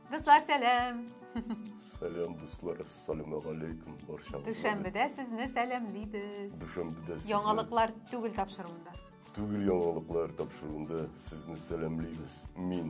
Дуслар, сәлам! Сәлам, дуслар, ассаламу алейкум, баршаңызға. Дүшәмбедә сезне сәламлибез. Дүшәмбедә сезне... Яңалыклар түгел тапшыруында. Түгел яңалыклар тапшыруында сезне сәламлибез. Мин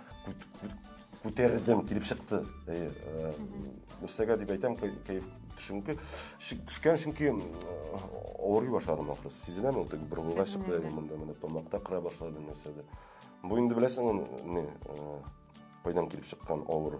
күтәрдем килеп чыкты әйе э, нәрсәгә дип әйтәм кәеф чөнки төшкән чөнки э, авырый башладым ахрысы сизеләме ул бер уйга чыкты монда менә тамакта кыра башлады нәрсәдә бу инде беләсең не э, кайдан килеп чыккан авыру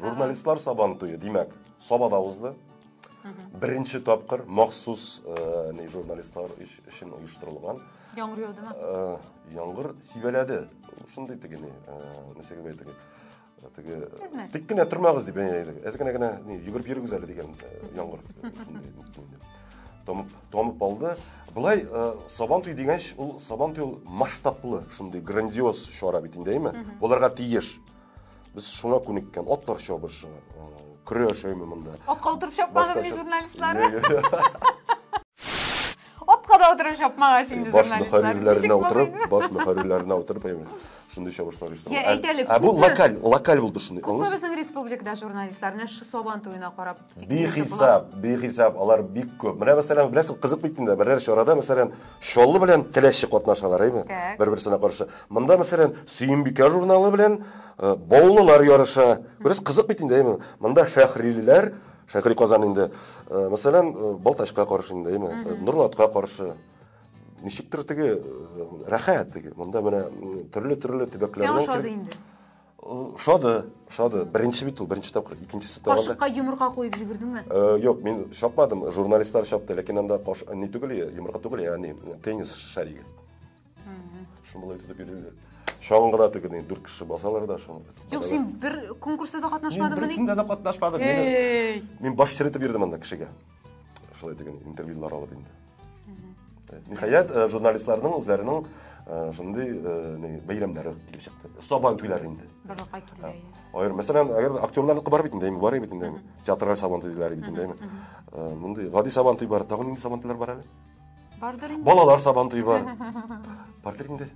Журналистлар сабан туе, димәк, Сабада узды. Беренче тапкыр махсус э, не журналистлар өчен оештырылган. Яңгыр яудымы? Э, яңгыр сибәләде. Шундый теге не, э, нәрсәгә бәйтеге. Теге тик кенә тормагыз дип әйтәләр. Әз генә генә йөгереп йөрегез әле дигән яңгыр. Томып, томып алды. Былай сабан туй дигәнч, ул сабан туй масштаблы, шундый грандиоз чара бит инде, әйме? Буларга тиеш. Без шуңа күнеккән, атлар чабышы, э, көрә яшәйме монда. Атка утырып чапмадым ни журналистлар. Атка да утырып чапмагач инде журналистлар. Баш мөхәррирләренә утырып, баш мөхәррирләренә утырып, шундый чабышлар оештыру. Я әйтәле. Ә бу локаль, локаль булды шундый. Күпме безнең республикада журналистлар менә шу Сабан туена карап Бихисап, бихисап, алар бик күп. Менә мәсәлән, беләсең, кызык бит инде, берәр чарада мәсәлән, Чаллы белән Теләче катнашалар, әйме? Бер-берсенә каршы. Монда мәсәлән, Сөембикә журналы белән э, Баулылар ярыша. Бераз кызык бит инде, әйме? Монда Шәһрилеләр, Шәһри Казан инде, э, мәсәлән, э, Балтачка каршы инде, әйме? Нурлатка каршы. Ничектер теге рәхәт теге. Монда менә төрле-төрле төбәкләрдән. Сәяхәт инде. Ошады, ошады. Беренче бит ул, беренче тапкыр, икенчесе тагында. Кашыкка йомырка куеп җибәрдеңме? Юк, э, мин чапмадым, журналистлар чапты, ләкин анда каш не түгел, йомырка түгел, ягъни теннис шариге. Шулай итеп йөриләр. Шаңгыда тегене дүрт кеше басалар да шуны. Юк, син бер конкурста да катнашмадыңмы? Мин берсендә дә катнашмадым. Мин баш черетеп йөрдем анда кешегә. шулай дигән интервьюлар алып инде ниһаять э, журналистларның үзләренең э, шундый э, бәйрәмнәре килеп чыкты сабан туйлар инде барлыкка килә ая мәсәлән әгәр актерлар бар бит инде бар бит инде театраль сабан туйлары бит инде мондый гади сабан туй бар тагын нинди сабан туйлар бар әле бардыр инде балалар сабан туй бар бардыр инде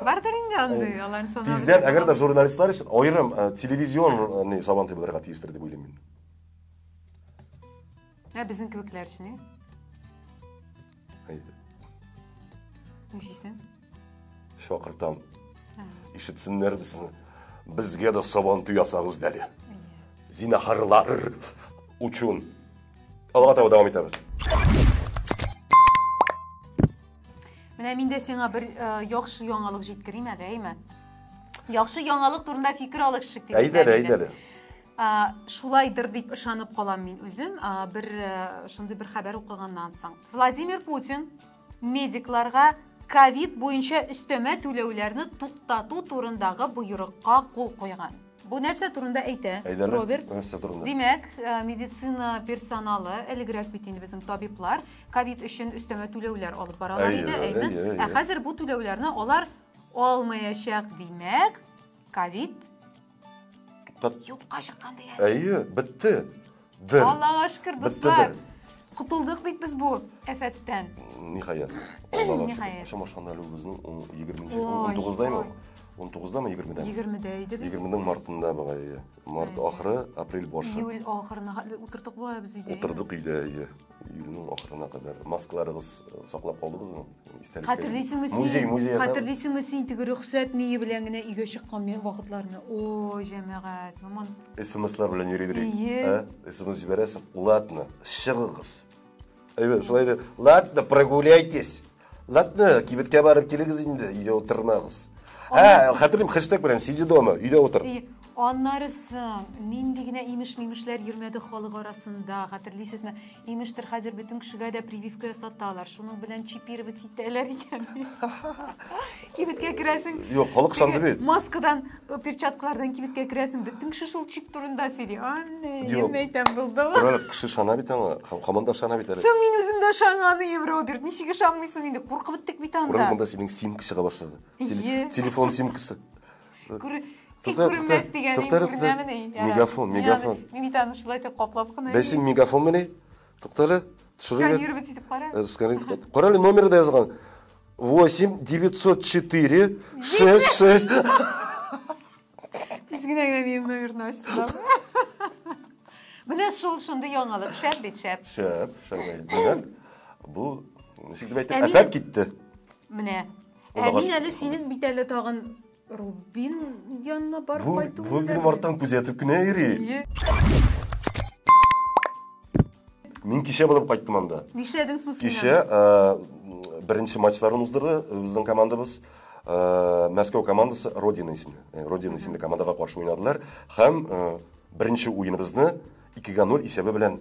бардыр инде андый алар тиздән әгәр дә журналистлар өчен аерым телевизион сабан туй булырга тиештер дип уйлыйм мин Ә безнең кебекләр өчен, ә? Әйдә. Нишлисең? Шакыртам. Ишетсеннәр безне. Безгә дә сабан туй ясагыз дәле. Зинахарлар учун. Алга таба дәвам итәбез. Менә мин дә сиңа бер яхшы яңалык җиткерим әле, әйме? Яхшы яңалык турында фикер алышык дип. Әйдәле, әйдәле. шулайдыр дип ышанып калам мин үзем бер шундый бер хәбәр укыганнан соң владимир путин медикларга ковид буенча өстәмә түләүләрне туктату турындагы боерыкка кул куйган бу нәрсә турында әйтә роберт димәк медицина персоналы элегрәк бит инде безнең табиблар ковид өчен өстәмә түләүләр алып баралар иде әйме ә хәзер бу түләүләрне алар алмаячак димәк ковид Тот- Юкка чыккан дигән. Әйе, бетте. Дер. Аллага шөкер, Бетте дуслар. дер. Котылдык бит без бу әфәттән. Ниһаять. Аллага Ниһаять. шөкер. Шамашканда әле үзенең 20-нче, Ой, 19-даймы? ой. 19-дамы, 20-дәме? 20-дә иде бит. 20-нең мартында бугай. әйе. Март ахыры, апрель башы. Июль ахырына хәтле утырдык бу без өйдә. Утырдык өйдә, әйе. Июльнең ахырына кадәр маскаларыгыз э, саклап калдыгызмы? Истәлекле. Хәтерлисеңме син? Музей, музей ясап. Хәтерлисеңме син теге рөхсәт ние белән генә өйгә чыккан мен- вакытларны? Ой, җәмәгать, яман. СМСлар белән йөридер. Ие. Ә? СМС җибәрәсең. Ладно, чыгыгыз. Әйбәт, шулай да. Ладно, прогуляйтесь. Латны, кибеткә барып килегез инде, өйдә утырмагыз. Ә, хәтерлим, хэштег белән сиди дома, өйдә утыр. И, Аннары соң, нинди генә имеш-мимешләр йөрмәде халык арасында, хәтерлисезме? Имештер, хәзер бөтен кешегә дә прививка ясаталар, шуның белән чипировать итәләр икән. Кибеткә керәсең. Юк, халык шанды бит. Маскадан, э, перчаткалардан кибеткә керәсең. Бөтен кеше шул чип турында сөйли. Анне, Юк. ен әйтәм булды. Король кеше шана бит аңа. Һәм хаман да шана бит әле. Соң мин үзем дә шанганыем, Роберт. Ничек ышанмыйсың инде? Куркып беттек бит Король анда. монда синең симка чыга башлады. Теле- Ие. Телефон симкасы. Күр- Тик Тукта, күренмәс тукта, дигәнең тукта, тукта. күренәмени? Ярар. Мегафон, Мин мегафон. аны- Мин бит аны шулай итеп каплап кына. Бәсим мегафон мени? Тукта әле. Сканировать итеп кара. Э, сканировать итеп. Кара әле номеры да язган. 8 904 66 Тиз генә генә минем номерны ачтылар. Менә шул шундый яңалык. Шәп бит, шәп. Шәп, шәп. Димәк, бу ничек дип әйтеп, әфәт китте. Менә. Ә мин әле синең бит әле тагын Рубин янына барып Бу, кайту бу минем арттан күзәтеп кенә йөри. Мин кичә булып кайттым анда. Нишләдең соң син? Кичә э, беренче матчларын уздырды э, безнең командабыз. Э, Мәскәү командасы Родина исемле. Э, Родина исемле командага каршы уйнадылар һәм э, беренче уеныбызны 2-0 исәбе белән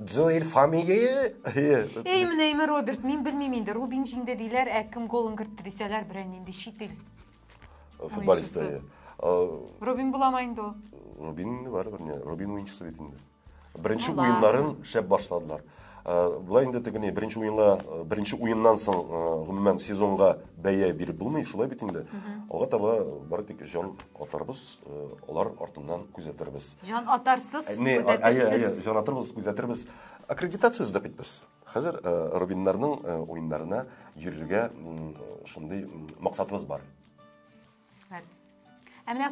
Джоэль фамилия? Эй, менә име Роберт, мин белмим инде. Рубин җиңде диләр, ә кем голын кертте дисәләр, берән инде чит ил. Футболисты. Рубин буламы инде ул? Рубин инде бар бер не. Рубин уенчысы бит инде. Беренче уеннарын шәп башладылар. Болай инде тегене беренче уенга, беренче уеннан соң, гомумән сезонга бәя биреп булмый, шулай бит инде. Алга таба бары тик җан атарбыз, э, алар артыннан күзәтербез. Җан атарсыз, э, Не, а- әйе, әйе, күзәтерсез. җан атарбыз, күзәтербез. Аккредитация эзләп бит без. Хәзер э, Рубиннарның э, уеннарына йөрергә м, шундый м, максатыбыз бар. Рәхмәт. Ә менә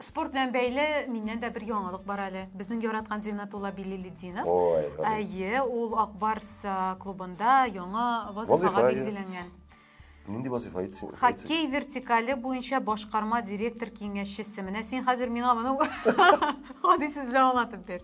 спорт белән бәйле миннән дә бер яңалык бар әле. Безнең яраткан Зинатулла Билилетдинов. Ой, Әйе, ул Акбарс клубында яңа вазифага билгеләнгән. Нинди вазифа әйтсен? Хоккей вертикале буенча башкарма директор киңәшчесе. Менә син хәзер миңа моны гади сүз белән аңлатып бир.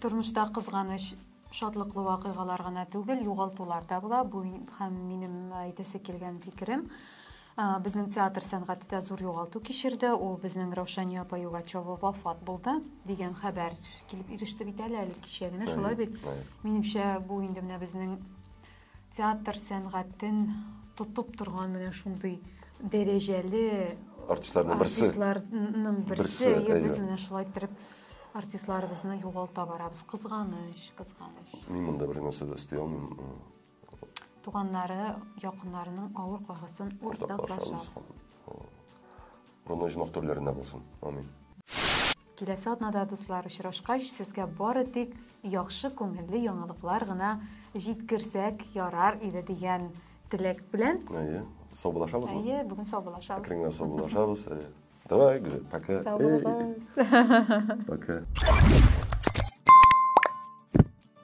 Тормышта кызганыч шатлыклы вакыйгалар гына түгел, югалтулар да була. Бу һәм минем әйтәсе килгән фикерем. Безнең театр сәнгате дә зур югалту кичерде. Ул безнең Раушания апа Югачева вафат булды дигән хәбәр килеп иреште бит әле әле кичә генә. Шулай бит. Минемчә, бу инде менә безнең Театр сәнгатен тотып торган менә шундый дәрәҗәле артистларның берсе. Артистларның берсе. Әйе, без менә шулай иттереп артистларыбызны югалта барабыз. Кызганыч, кызганыч. Мин монда бер нәрсә дә өсти алмыйм. Туганнары, якыннарының авыр кайгысын уртаклашабыз. Рона оҗмах төрләрендә булсын. Амин. Киләсе атнада, дуслар, очрашкач, сезгә бары тик яхшы күңелле яңалыклар гына җиткерсәк ярар иде дигән теләк белән. Әйе, саубулашабыз. Әйе, бүген саубулашабыз. Әкренләп саубулашабыз. Әйе. Давай, Гүзәл, пока. Саубулашабыз. Пока.